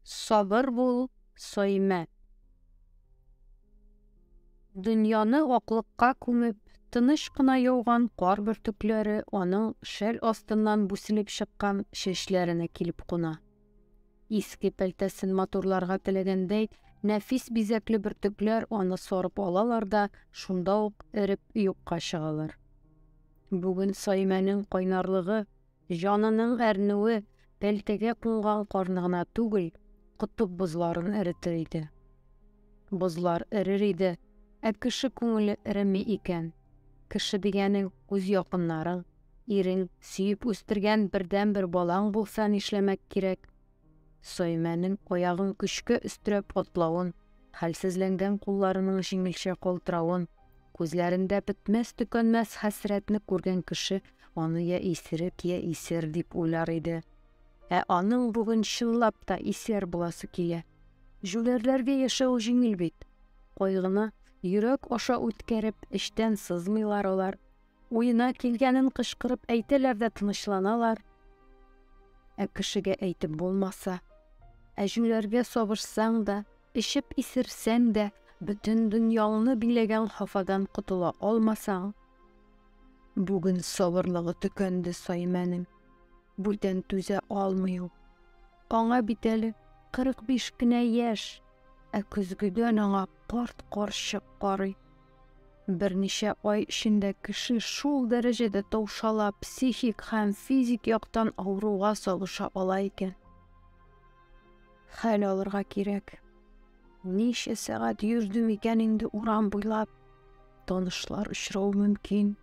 Сабыр бул, Соймә. Дөньяны аклыкка күмеп, тыныч кына яуган кар бөртекләре аның шәл астыннан бүселеп чыккан чәчләренә килеп куна. Иске пәлтәсен матурларга теләгәндәй, нәфис бизәкле бөртекләр аны сарып алалар да, шунда ук эреп юкка чыгалар. Бүген Саймәнең кайнарлыгы, җанының әрнүе пәлтәгә кунган карны гына түгел, котып бозларын эретер иде. Бозлар эрер иде, ә кеше күңеле эреми икән. Кеше дигәнең үз якыннарың, Ирең, сөеп үстергән бердәнбер балаң булса нишләмәк кирәк? Саимәнең аягын көчкә өстерәп атлавын, хәлсезләнгән кулларының җиңелчә калтыравын, күзләрендә бетмәс-төкәнмәс хәсрәтне күргән кеше аны йә исерек, йә исер дип уйлар иде. Ә аның бүген чынлап та исер буласы килә. Җүләрләргә яшәү җиңел бит. Кайгыны йөрәк аша үткәреп, эчтән сызмыйлар алар. Уена килгәнен кычкырып әйтәләр дә тынычланалар. Ә кешегә әйтеп булмаса, ә җүләргә сабышсаң да, эчеп исерсәң дә, бөтен дөньяңны биләгән хафадан котыла алмасаң. Бүген сабырлыгы төкәнде Саймәнең. Бүтән түзә алмый ул. Аңа бит әле 45 кенә яшь, ә көзгедән аңа карт карчык карый. Берничә ай эчендә кеше шул дәрәҗәдә таушала, психик һәм физик яктан авыруга салыша ала икән. Хәл алырга кирәк. Ничә сәгать йөрдем икән инде урам буйлап? Танышлар очрау мөмкин.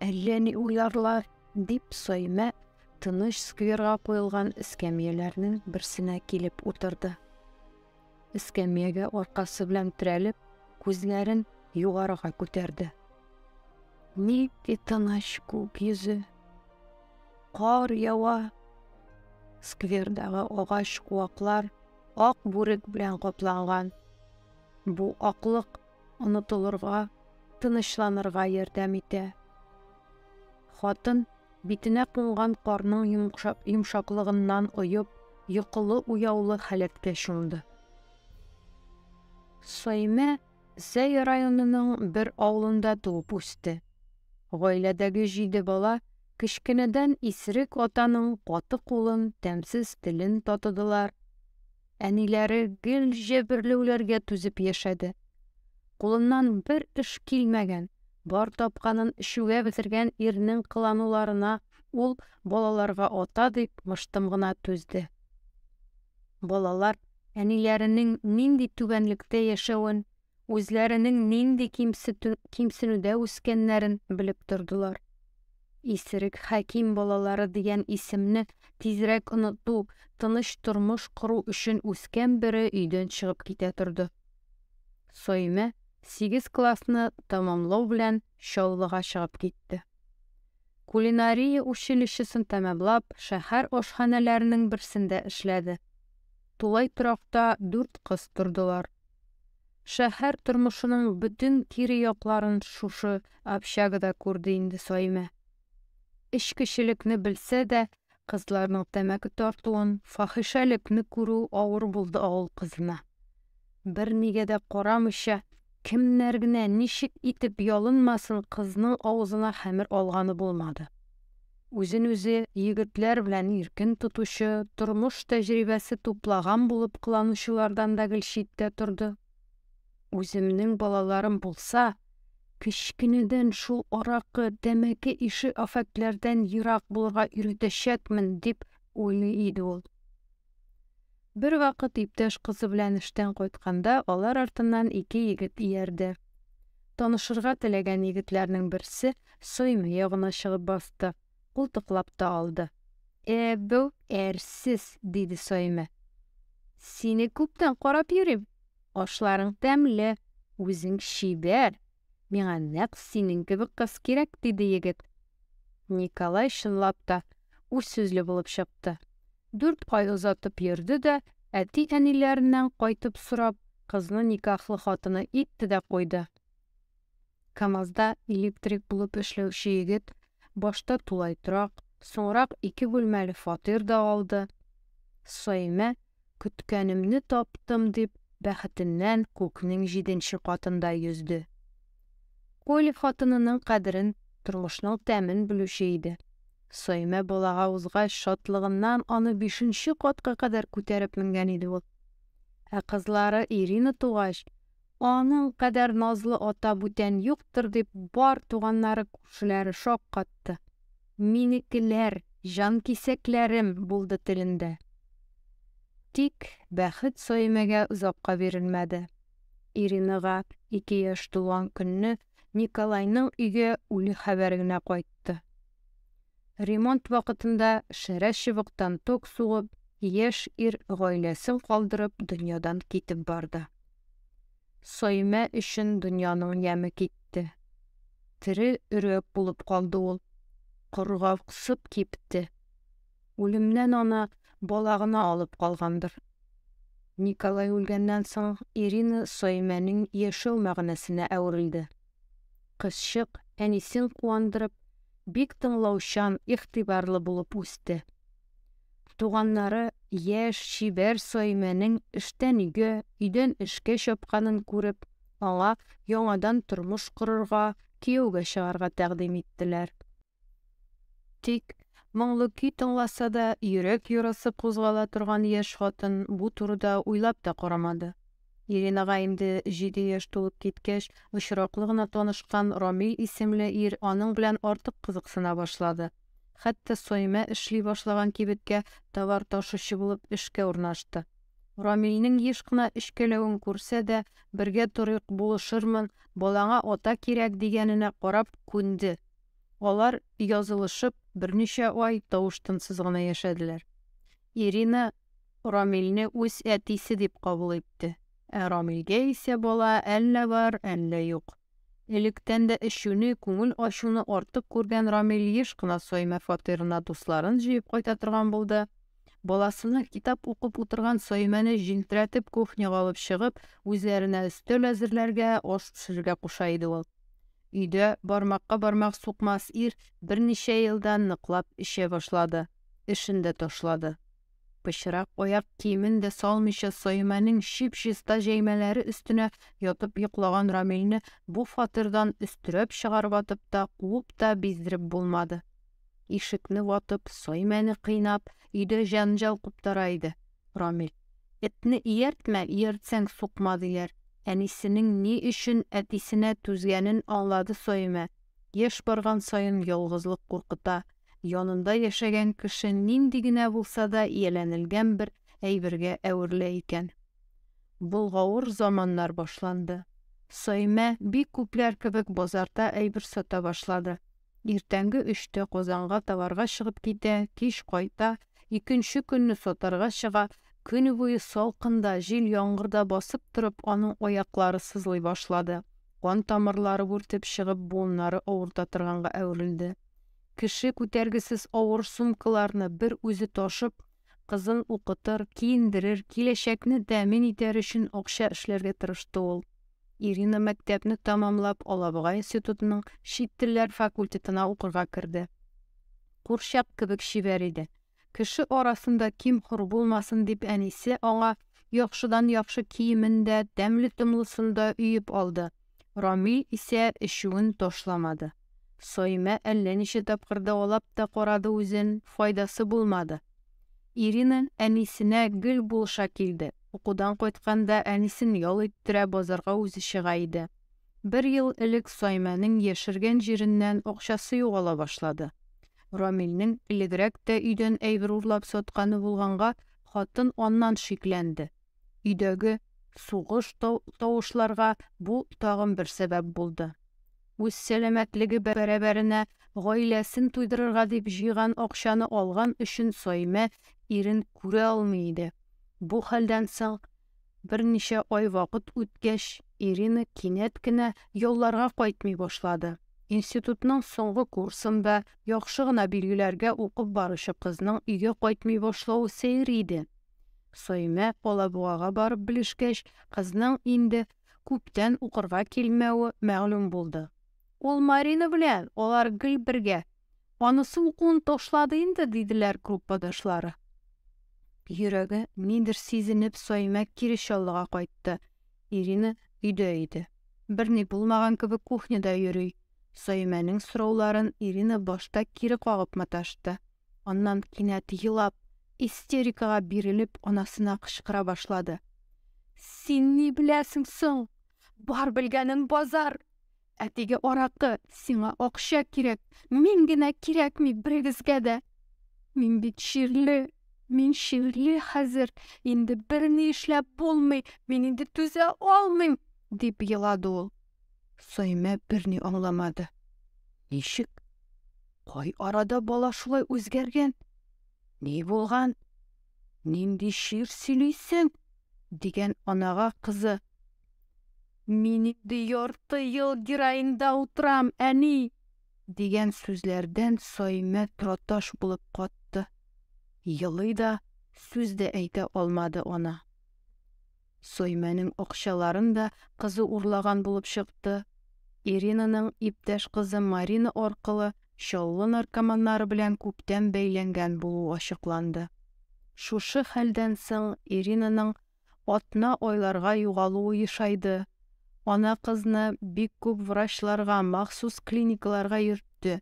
Әллә ни уйларлар, дип Саймә тыныч скверга куелган эскәмияләрнең берсенә килеп утырды. Эскәмиягә аркасы белән терәлеп, күзләрен югарыга күтәрде. Нинди тыныч күк йөзе. Кар ява. Сквердагы агач куаклар ак бүрек белән капланган. Бу аклык онытылырга, тынычланырга ярдәм итә. Хатын Битенә кунган карның йомшаклыгыннан оеп, йокылы-уяулы халәткә чумды. Саимә Зәй районының бер авылында туып үсте. Гаиләдәге җиде бала кечкенәдән исерек атаның каты кулын, тәмсез телен татыдылар. Әниләре гел җәберләүләргә түзеп яшәде. Кулыннан бер эш килмәгән, бар тапканын эчүгә бетергән ирнең кылануларына ул балаларга ата дип мыштым гына түзде. Балалар әниләренең нинди түбәнлектә яшәвен үзләренең нинди кимсенүдә үскәннәрен белеп тордылар. Исерек хәким балалары дигән исемне тизрәк оныту, тыныч тормыш кору өчен үскән бере өйдән чыгып китә торды. Соймә сигез классны тәмамлау белән Чаллыга чыгып китте. Кулинария училищесын тәмамлап, шәһәр ашханәләренең берсендә эшләде. Тулай торакта дүрт кыз тордылар. Шәһәр тормышының бөтен кире якларын шушы общагада күрде инде Саимә. Эчкечелекне белсә дә, кызларның тәмәке тартуын, фахишәлекне күрү авыр булды авыл кызына. Бернигә дә карамыйча, кемнәр генә ничек итеп ялынмасын, кызның авызына хәмер алганы булмады. Үзен-үзе егетләр белән иркен тотучы, тормыш тәҗрибәсе туплаган булып кыланучылардан да гел читтә торды. Үземнең балаларым булса, кечкенәдән шул аракы, тәмәке ише афәтләрдән ерак булырга өйрәтәчәкмен, дип уйлый иде ул. Бервакыт иптәш кызы белән эштән кайтканда алар артыннан ике егет иярде. Танышырга теләгән егетләрнең берсе Сойме ягына чыгып басты, култыклап та алды. Ә бу әрсез, диде Сойме. Сине күптән карап йөрим. Ашларың тәмле, үзең чибәр. Миңа нәкъ синең кебек кыз кирәк, диде егет. Николай чынлап та үз сүзле булып чыкты. Дүрт ай озатып йөрде дә, әти-әниләреннән кайтып сорап, кызны никахлы хатыны итте дә куйды. КАМАЗда электрик булып эшләүче егет башта тулай торак, соңрак ике бүлмәле фатир да алды. Саимә Көткәнемне таптым, дип, бәхетеннән күкнең җиденче катында йөзде. Коль хатынының кадерен, тормышның тәмен белүче иде. Соймә балага узгач, шатлыгыннан аны бишенче катка кадәр күтәреп менгән иде ул. Ә кызлары Ирина тугач, Аның кадәр назлы ата бүтән юктыр, дип, бар туганнары-күршеләре шаккатты. Минекеләр, җанкисәкләрем булды телендә. Тик бәхет Саимәгә озакка бирелмәде. Иринага ике яшь тулган көнне Николайның өйгә үле хәбәре генә кайтты. Ремонт вакытында шәрә чыбыктан ток сугып, яшь ир гаиләсен калдырып дөньядан китеп барды. Саимә өчен дөньяның яме китте. Тере өрәк булып калды ул. Коргаксып кипте. Үлемнән аны бала гына алып калгандыр. Николай үлгәннән соң Ирина Саимәнең яшәү мәгънәсенә әверелде. Кызчык, әнисен куандырып, бик тыңлаучан, игътибарлы булып үсте. Туганнары яшь, чибәр Саимәнең эштән өйгә, өйдән эшкә чапканын күреп, аңа яңадан тормыш корырга, кияүгә чыгарга тәкъдим иттеләр. Тик, моңлы көй тыңласа да, йөрәк ярасы кузгала торган яшь хатын бу турыда уйлап та карамады. Иринага инде җиде яшь тулып киткәч, очраклы гына танышкан Рамил исемле ир аның белән артык кызыксына башлады. Хәтта Саимә эшли башлаган кибеткә товар ташучы булып эшкә урнашты. Рамилнең еш кына өчкәләвен күрсә дә, бергә торыйк, булышырмын, балаңа ата кирәк, дигәненә карап, күнде. Алар, язылышып, берничә ай тавыш-тынсыз гына яшәделәр. Ирина Рамилне үз әтисе дип кабул итте. Ә Рамилгә исә бала әллә бар, әллә юк. Электән дә эчүне, күңел ачуны артык күргән Рамил еш кына Саимә фатирына дусларын җыеп кайта торган булды. Баласына китап укып утырган Саимәне җилтерәтеп кухняга алып чыгып, үзләренә өстәл әзерләргә, аш пешерергә куша иде ул. Өйдә бармакка бармак сукмас ир берничә елда ныклап эчә башлады, эшен дә ташлады. Пычрак аяк киемен дә салмыйча Саимәнең чип-чиста җәймәләре өстенә ятып йоклаган Рамилне бу фатирдан өстерәп чыгарып атып та, куып та биздереп булмады. Ишекне ватып, Саимәне кыйнап, өйдә җәнҗал куптара иде Рамил. Этне ияртмә, ияртсәң сукма, диләр. Әнисенең ни өчен әтисенә түзгәнен аңлады Саимә. Яшь барган саен ялгызлык куркыта. Янында яшәгән кеше нинди генә булса да ияләнелгән бер әйбергә әверелә икән. Болгавыр заманнар башланды. Саимә, бик күпләр кебек, базарда әйбер сата башлады. Иртәнге өчтә Казанга товарга чыгып китә, кич кайта, икенче көнне сатарга чыга. Көне буе салкында, җил-яңгырда басып торып, аның аяклары сызлый башлады. Кан тамырлары бүртеп чыгып, буыннары авырта торганга әверелде. Кеше күтәргесез авыр сумкаларны бер үзе ташып, кызын укытыр, киендерер, киләчәкне тәэмин итәр өчен акча эшләргә тырышты ул. Ирина мәктәпне тәмамлап Алабуга институтының чит телләр факультетына укырга керде. Курчак кебек чибәр иде. Кеше арасында ким хур булмасын дип әнисе аңа яхшыдан яхшы киемен дә, тәмле томлысын да өеп алды. Рамил исә эчүен ташламады. Саимә әллә ничә тапкыр дәвалап та карады үзен, файдасы булмады. Ирина әнисенә гел булыша килде. Укудан кайтканда әнисен ял иттерә, базарга үзе чыга иде. Бер ел элек Саймәнең яшергән җиреннән акчасы югала башлады. Рамилнең элегрәк тә өйдән әйбер урлап сатканы булганга, хатын аннан шикләнде. Өйдәге сугыш тавышларга бу тагын бер сәбәп булды. Үз сәламәтлеге бәрабәренә гаиләсен туйдырырга дип җыйган акчаны алган өчен Саймә ирен күрә алмый иде. Бу хәлдән соң берничә ай вакыт үткәч, Ирина кинәт кенә ялларга кайтмый башлады. Институтның соңгы курсында яхшы гына билгеләргә укып баручы кызның өйгә кайтмый башлавы сәер иде. Саимә Алабугага барып белешкәч, кызның инде күптән укырга килмәве мәгълүм булды. Ул Марина белән, алар гел бергә, Анысы укуын ташлады инде, диделәр группадашлары. Йөрәге нидер сизенеп, Саимә кире Чаллыга кайтты. Ирина өйдә иде. Берни булмаган кебек кухняда йөри. Саимәнең сорауларын Ирина башта кире кагып маташты. Аннан кинәт елап, истерикага бирелеп, анасына кычкыра башлады. Син ни беләсең соң? Бар белгәнем базар! Әтиге аракы, сиңа акча кирәк, мин генә кирәкми берегезгә дә. Мин бит чирле, мин чирле хәзер, инде берни эшләп булмый, мин инде түзә алмыйм, дип елады ул. Саймә берни аңламады. Ничек? Кай арада бала шулай үзгәргән? Ни булган? Нинди чир сөйлисең? дигән анага кызы Мин инде ярты ел героинда утырам, әни! дигән сүзләрдән Саймә траташ булып катты. Елый да, сүз дә әйтә алмады ана. Саймәнең акчаларын да кызы урлаган булып чыкты. Иринаның иптәш кызы Марина аркылы Чаллы наркоманнары белән күптән бәйләнгән булуы ачыкланды. Шушы хәлдән соң Иринаның атна айларга югалуы ешайды. Ана кызны бик күп врачларга, махсус клиникаларга йөртте.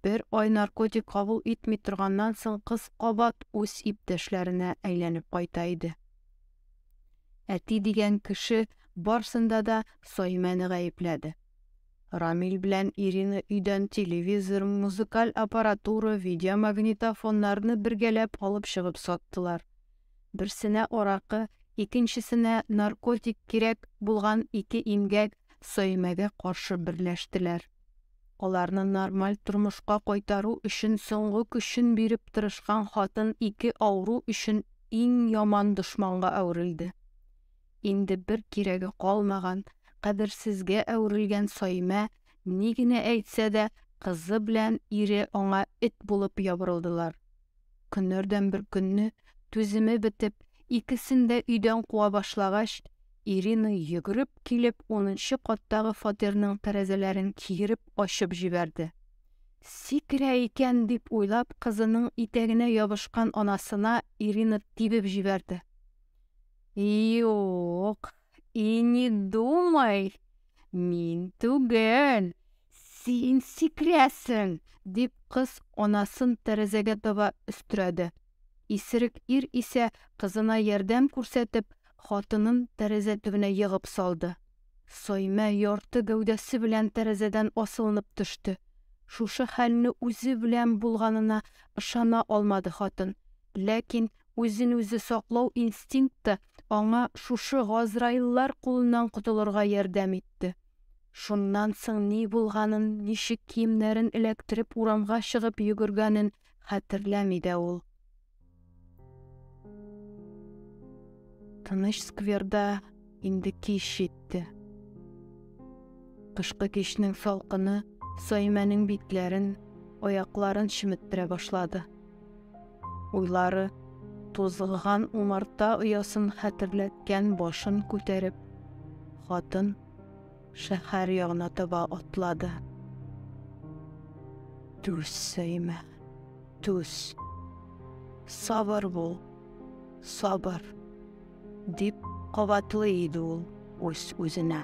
Бер ай наркотик кабул итми торганнан соң кыз кабат үз иптәшләренә әйләнеп кайта иде. Әти дигән кеше барсында да Саимәне гаепләде. Рамил белән Ирина өйдән телевизор, музыкаль аппаратура, видеомагнитофоннарны бергәләп алып чыгып саттылар. Берсенә аракы, икенчесенә наркотик кирәк булган ике имгәк Саимәгә каршы берләштеләр. Аларны нормаль тормышка кайтару өчен соңгы көчен биреп тырышкан хатын ике авыру өчен иң яман дошманга әверелде. Инде бер кирәге калмаган, кадерсезгә әверелгән Саимә ни генә әйтсә дә, кызы белән ире аңа эт булып ябырылдылар. Көннәрдән бер көнне түземе бетеп, икесен дә өйдән куа башлагач, Ирина йөгереп килеп, унынчы каттагы фатирның тәрәзәләрен киереп ачып җибәрде. Сикерә икән дип уйлап, кызының итәгенә ябышкан анасына Ирина тибеп җибәрде. Юк, И не думай, мин түгел, син сикрәсең, дип кыз анасын тәрәзәгә таба өстерәде. Исерек ир исә кызына ярдәм күрсәтеп, хатынын тәрәзә төбенә егып салды. Соймә ярты гәүдәсе белән тәрәзәдән асылынып төште. Шушы хәлне үзе белән булганына ышана алмады хатын, ләкин Үзен-үзе саклау инстинкты аңа шушы газраиллар кулыннан котылырга ярдәм итте. Шуннан соң ни булганын, ничек киемнәрен эләктереп урамга чыгып йөгергәнен хәтерләми дә ул. Тыныч скверда Инде кич җитте. Кышкы кичнең салкыны Саймәнең битләрен, аякларын чеметтерә башлады. Уйлары тузгыган умарта оясын хәтерләткән башын күтәреп, хатын шәһәр ягына таба атлады. Түз, Саймә, түз. Сабыр бул, сабыр. Дип кабатлый иде ул үз-үзенә.